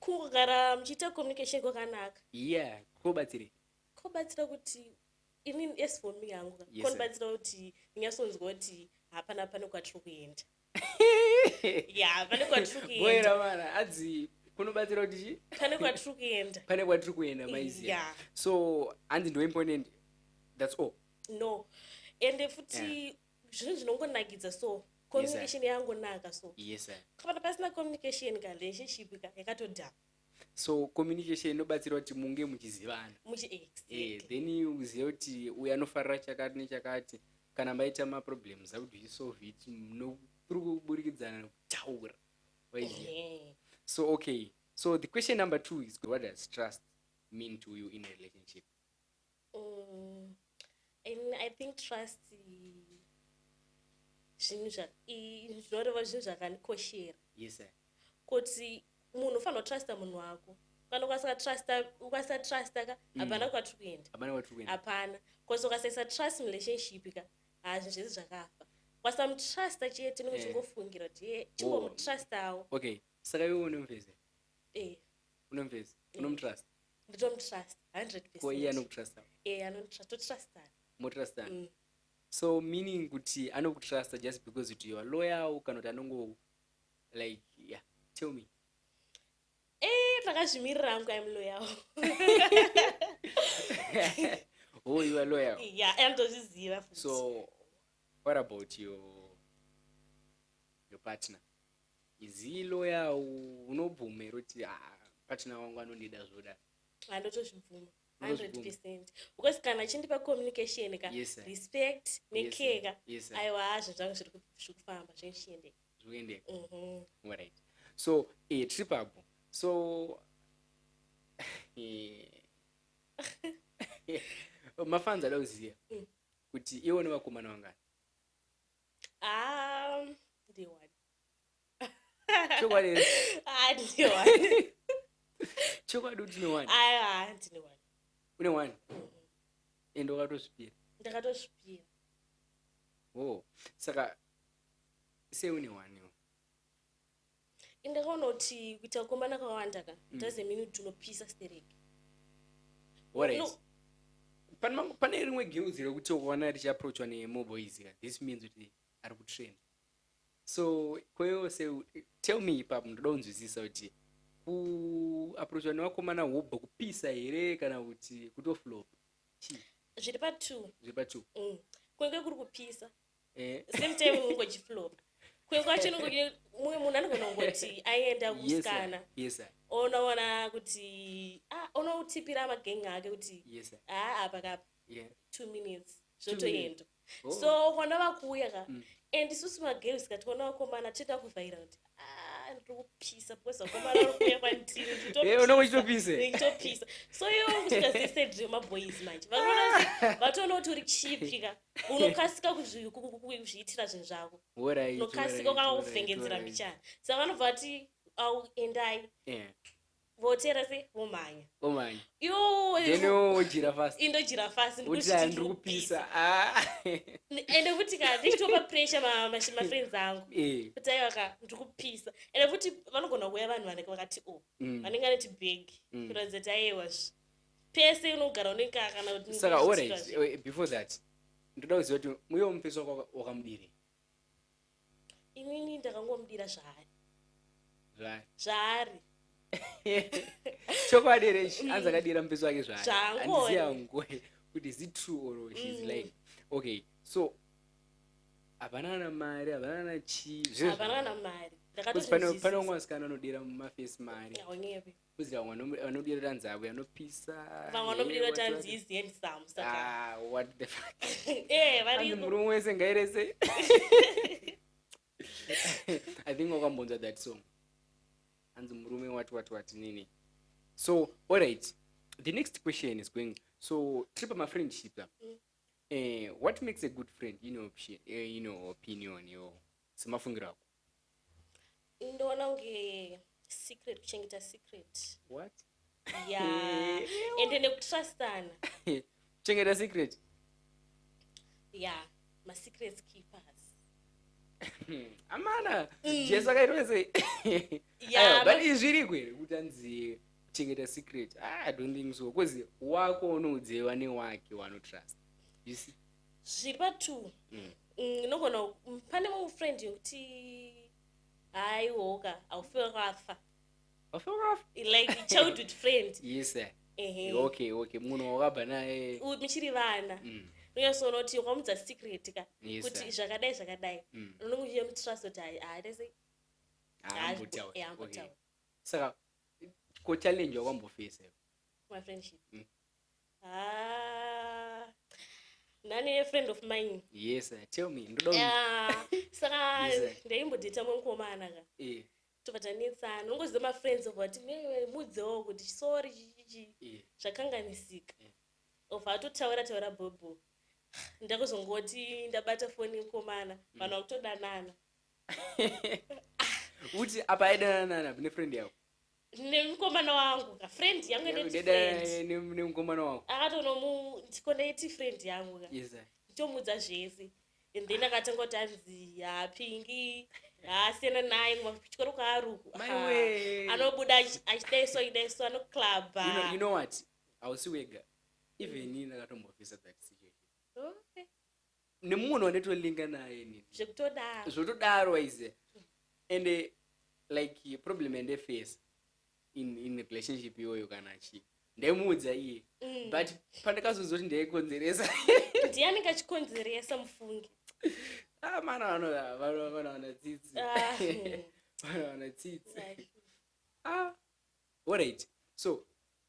kugara muchiita communication kwakanaka yeah kobatsirei kobatsira kuti ini as for me hangu ka Yes, sir. konibatsira kuti ndinyasonzwa kuti hapana pane kwatiri kuenda ya pane kwatiri kuenda boera mara adzi kunobatsira kuti chi pane kwatiri kuenda pane kwatiri kuenda maiziva Yeah. so hanzi ndo imponent that's all no ende futi zvinhu zvinongonakidza so communication yes, yangonaka so yes, kana pasina communication ka relationship ka yakatodhama so communication inobatsira kuti munge muchizivana eh, then uzive kuti uyu anofarira chakati nechakati kana maita maproblems akuti uchisolve it kuri kuburikidza kutaura so okay so the question number two is what does trust mean to you in a relationship umm i think trust zvinhu zvinoreva zvinhu zvakandikoshera yes sir kuti munhu ufanira kutrusta munhu wako kana ukasatrust ukasatrust ka mm. hapana mm. kwatiri kuenda hapana kwatiri kuenda hapana because ukasaisa trust relationship ka hazvi zvese zvakafa ukasamutrust chete nokuchingofungira eh. kuti oh. chingomutrustawo okay saka iwe unomveze eh unomvesa eh. unomutrust nditomutrust 100 ko iye anokutrust e eh, anotrust totrustana motrustana mm. so meaning kuti anokutrusta just because kuti your loyal kana kuti anongo like yeah tell me eh takazvimirira hangu im loyal oh you are loyal yeah andozviziva so what about your your partner izii loya unobvuma here kuti ah, patina wangu anondida zvoda andotozvibvuma 100 because kana achindipa communication ka yes, respect necare ka yes, aiwa hazvo zvangu zviri kufamba zvichiendeka zvoendeka mhm. right so eh, tiri papo so eh, mafanzi ada kuziva mm. kuti iwo nevakomana vangani Ah, ndiwani. Chokwadi here? Ah, ndiwani. Chokwadi kuti une one. Ah, ndine wani. Une one. Ende wakatozvipira. Ndakatozvipira. Oh. Saka sei une one iwe? inga kaona kuti kuita kukombana kwawanda ka mm. doesn't mean kuti unopisa stereki pane rimwe girls rekuti ukaona richiaproachwa nemoboys ka this means kuti ari kutrain so kweyose tell me ipapo ndoda kunzwisisa kuti kuaproachwa nevakomana wobva kupisa here kana kuti kutoflopa zviri patwo zviri patwo mm. kunenge kuri kupisa eh. same time ungojiflopa kumwe kwacho mumwe munhu anogona kungoti aienda kusikana yes, yes, onoona kuti ah, unotipira magengi ake kuti haa ah, apa kapa yeah. two minutes zvotoenda oh. so kwana vakuuya ka mm. and isusu magirls ka tikaona vakomana tinoda kuvhaira kuti Ah, ndokupisa because vakomana vakuuya kwandiri nditopisa nditopisa so iwo kusvika zese ndremaboys manje vanoona vatoona kuti uri chipi ka unokasika kuzviitira zvinhu zvako unokasika ukanga kuvhengedzera mbichana saka vanobva vati au endai voteera se vomhanya omhanya then wojira fast indojira fast Uti ah, ndiri kupisa Ah. ende futi ka ndichitopa pressure ma- ma- mafriends angu Eh, kuti aiwa ka ndiri kupisa ende futi vanogona kuuya vanhu vanenge vakati o mm. vanenge vaneti big Mm. kuratidza kuti aiwa zve pese unogara unenge ka- kana kuti saka ndiri alright kuitira zve. eh, before that ndoda kuziva kuti muye wamupesa waka- wakamudiri inini ndakangomudira zvaari zvaari chokwadi here ichi anzi akadira mupeso wake zvaariandiziyangue kuti is it true or she's mm. lying okay so havana kana mari havana kana chii zviro zvavana kana mari pane umwe asikana anodira mumafesi mari Kuzi vamwe vanomu- vanodirira nzava yanopisa vamwe vanomirira kuti hanzi is handsome saka Ah, what the fuck eh vari Hanzi murume wese ngairese i think wakambonzwa that song hanzi murume wati wati wati nini so alright the next question is going so tiri pamafriendship apa Mm. eh, what makes a good friend in your, option, eh, in your opinion yo semafungiro ako ndoona kunge secret kuchengeta secret what ya ende nekutrustana kuchengeta secret ya masecrets keepers amana mm. jesu akaitwa sei but izviriko here kuti anzi kuchengeta secret ah, i don't think so bcause wako unoudzeiwa newake wanotrust you see zvipa two mm. mm, nogona mm, pane mumwe friend yokuti haiwoka aufe wakafa aufe wakafa like childhood friend yes sir okay okay munhu wakabva naye muchiri vana mm. unyasoona kuti wakamudza secret ka kuti zvakadai zvakadai mm. unonge uchiyemutrust kuti haatese saka ko challenge wakwambofesa mafriendship Ah, nani a friend of mine yes sir. tell me ndoda un- Ah, saka Yes, sir. ndaimbodheta mwe mukomana ka eh, tobva tanetsana ungoziva mafriends obva vati "Me- mudzewo kuti sorry chichichi eh. zvakanganisika Yeah. obva atotaura taura bhobho ndakuzongoti ndabata foni mukomana Mm. vanhu vakutodanana uti apa aidananana nepfriend yako nemukomana wangu ka friend yangu ine Dada, friend eh, ne- nemukomana wako akatonomu ndikondaiti friend yangu ka Yes, sir. ndomuudza zvese and then akatanga kuti anzi hapingi haasiyana naye kuma kuchikoro kwaaruku My way. anobuda achi- achidaiswa idaiswa You know, you anoclubha know what hausi wega even ini ndakatombofisa that situation Okay. nemumwe no wanetolinga naye ini zvekutodaro zvotodaro waize and eh, like problem yandefesa in, in relationship iyoyo kana chi ndaimuudza iye Mm. but pandakazonzwa kuti ndaikonzeresa ndiye anenge achikonzeresa mufunge ah, mana vano- vano- vanowana tsitsi Ah, hmm. vanowana tsitsi Right. ah, alright so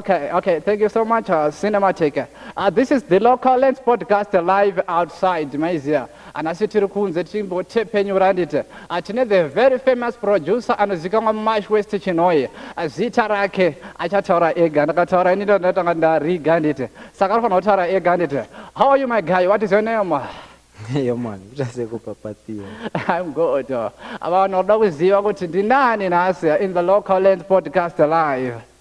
Okay, okay, thank you so much, uh, Cinema Taker. Uh, this is the local lens podcast live outside Maizia. Anasi tiri kunze tichimbotepenyura handiti. Uh, tine the very famous producer anozikamwa mumash west chinoye. Uh, zita rake achataura ega. Ndakataura ini ndatanga ndariga handiti. Saka anofanira kutaura ega handiti. How are you my guy? What is your name? Yo man, uchase kupapatiwa. I'm good. Uh, vanoda kuziva kuti ndinani nhasi in the local lens podcast live.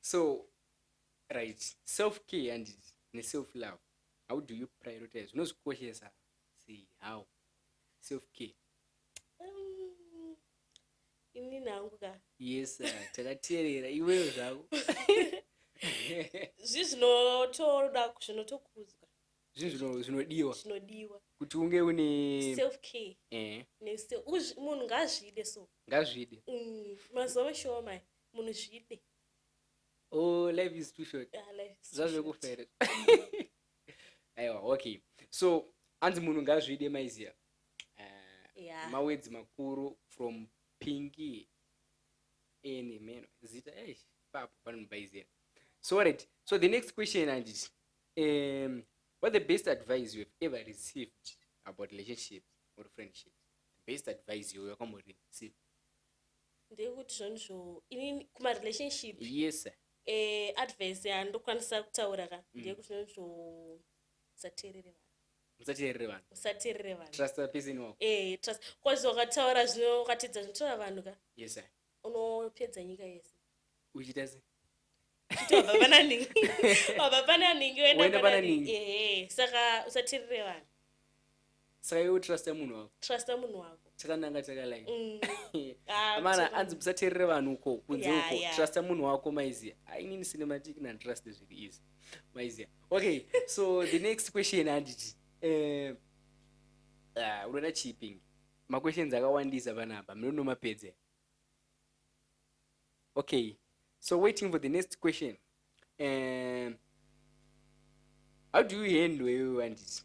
so right self care and ne self love how do you prioritize unozvikoshesa sei how self care um, ini nangu ka yes uh, takateerera iweyo zvako zvi zvinotoda zvinotokudzwa zvinhu zvino- zvinodiwa zvinodiwa kuti unge une self care eh, nese- uzvi- munhu ngaazvide so ngazvide Mm, mazuva mashowa maya munhu zvide oh life is too short Ah, life is too short. zvazvekufere aiwa okay so anzi munhu ngazvide maiziya uh, Yeah. mawedzi makuru from pingi ene meno zita eish papo panomubaizira so right so the next question handiti Um, what the best advice you have ever received about relationships or friendship? The best advice you have ever received? ndeyekuti zvonizvo ini kumarelationship yes sir. eh, advice yandokwanisa kutaura ka Mm. ndeyekuti zvonizvo usateerere vanhu musateerere vanhu usateerere vanhu trust the person wako eh, trust kwazi wakataura zvino ukatedza zvinotaura vanhu ka yes sir. unopedza nyika yese uchiita sei chitobva pana ningi wabva pana ningi woenda pana ningi ehe saka usatirire vanhu saka iwe trusta munhu wako trusta munhu wako chakananga chakalai mm. ah, amana anzi musaterere vanhu uko kunze uko trusta munhu wako maizia ainini cinematic nanditrust zviri easy maizia okay so the next question handiti eh, ah, unoda chiipingi maquestions akawandisa panapa munonomapedze okay so waiting for the next question um, how do you handle iwe anditi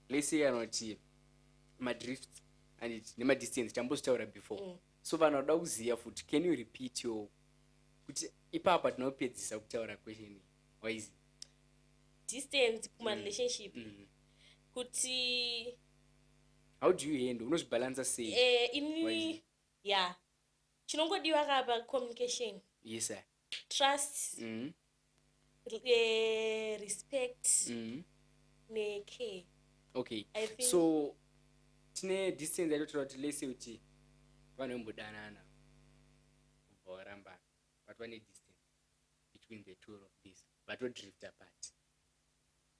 let's say kana kuti madrift anditi nemadistance tambozvitaura before mm. so vanhu vanoda kuziva futi can you repeat your kuti ipapa tinopedzisa kutaura question wise distance kumarelationship mm. mm. kuti how do you handle unozvibalansa sei eh ini ya chinongodiwa ka pa communication yes sir trust mm -hmm. eh, respect mm -hmm. ne care okay I think... so tine distance yatotora kuti lese kuti vanhu vembodanana kubva varambana but vane distance between the two of this vatodrift apart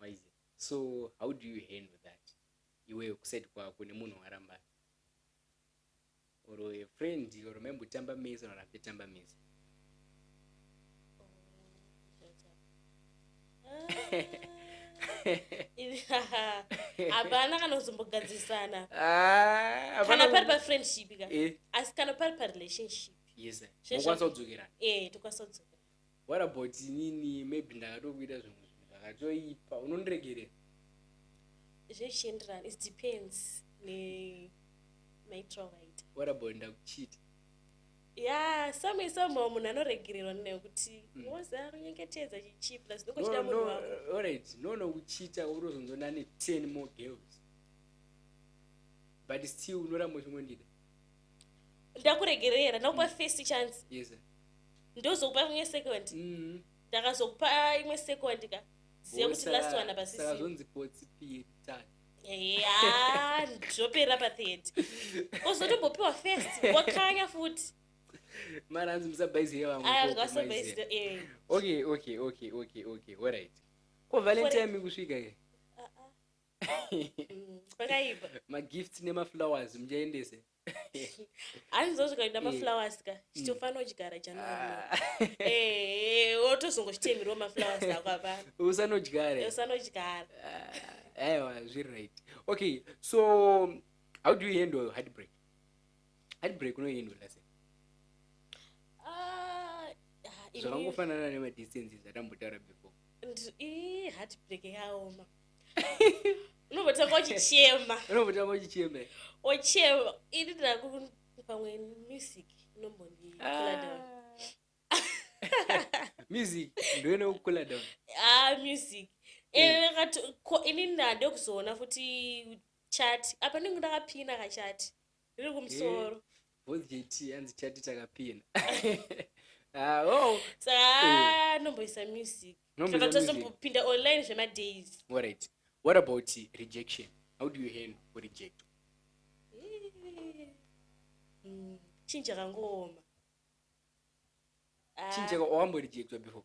why is it so how do you handle that iwewe kuside kwako nemunhu waramba or a friend or maimbotamba mese or hapetamba mese hapana kana kuzombogadzirisana ah, kana pari pafriendship ka eh. asi kana pari parelationship yes mokwanisa kudzokerana eh tokwanisa kudzokerana what about inini maybe ndakatokuita zvimwe zvinhu zvakatoipa unondiregerera zvichienderana it depends nemaitiro avaita what about ndakuchita ya some somehow munhu anoregererwa ninayo kuti mm. woza kunyengetedza chichipa zinokochita munhu wako alright no no kuchita urozonzona ne 10 more girls but still unoramba uchingondida ndakuregerera ndakupa mm. first chance yes, ndozokupa imwe second mm. ndakazokupa mm. imwe second ka ziva kuti last one apasisazonzi potsi piri tatu ya ndopera pathird ozotombopiwa first wakanya futi mara anzi musabaiziye vamweasabaiziye eh. okay okay okay okay okay alright ko valentime kusvika ke Mm, kwakaipa magifts nemaflowers muchaendese hanzi zosvika kuda Eh. maflowers ka chitofanira kuchigara january Ah, Eh, wotozongochitemirwa maflowers ako apana usanodyare usanochigara Ah, aiwa zviri right okay so how do you handle heartbreak heartbreak unoihandle sei Ah, ah, ini- zvakangofanana nemadistances atambotaura before ndi- ii, heartbreak yaoma unobotanga uchichema unobotanga uchichema ochema ini ndaku pamwe music inombondikula ah. down music ndoine kukula down ah music eh, ini ndade kuzoona futi chat apa ndingu ndakapina kachati riri kumusoro both jt hanzi chati takapina ah, oh. saka anomboisa eh. music saka tozombopinda online zvemadays alright what about rejection how do you handle reject eh. mm, chinja kangooma chinja ah. wamborejectwa before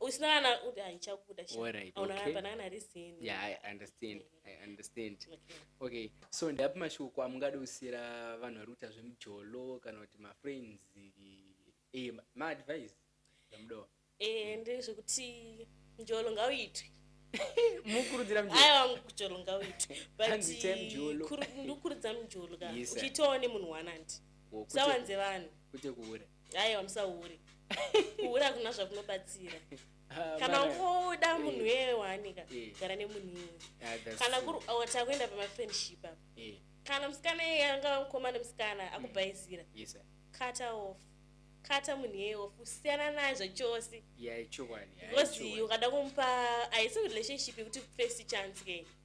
usina kana kuti haichabuda aunaapanakana risini yeah i understand i understand okay so ndapi mashoko amungada kusiyira vanhu vari kuita zvemujolo kana kuti mafriends e eh, maadvice amudowa e eh, ndezvekuti mjolo ngauitwe mukurudzira mjolo ngauitwe butndikurudzira mjolo ka uchiitawo nemunhu wanandi sawanze vanhu kwete kuura aiwa musahure kuhure hakuna zvakunobatsira ah, kana ukoda munhu eh. weye waanika eh. gara nemunhii ah, kana kuri awati akuenda pamafriendship apa eh. kana musikana eye angava mukoma nemusikana mm. akubhaizira kata off kata munhu yeye off usiyana naye zvachose because ukada kumupa haisi relationship yekuti first chance kei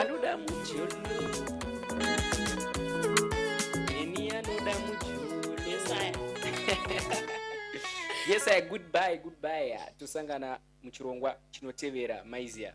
anoda mujolo ini anoda mujolo yes i goodbye goodbye tosangana muchirongwa chinotevera maizia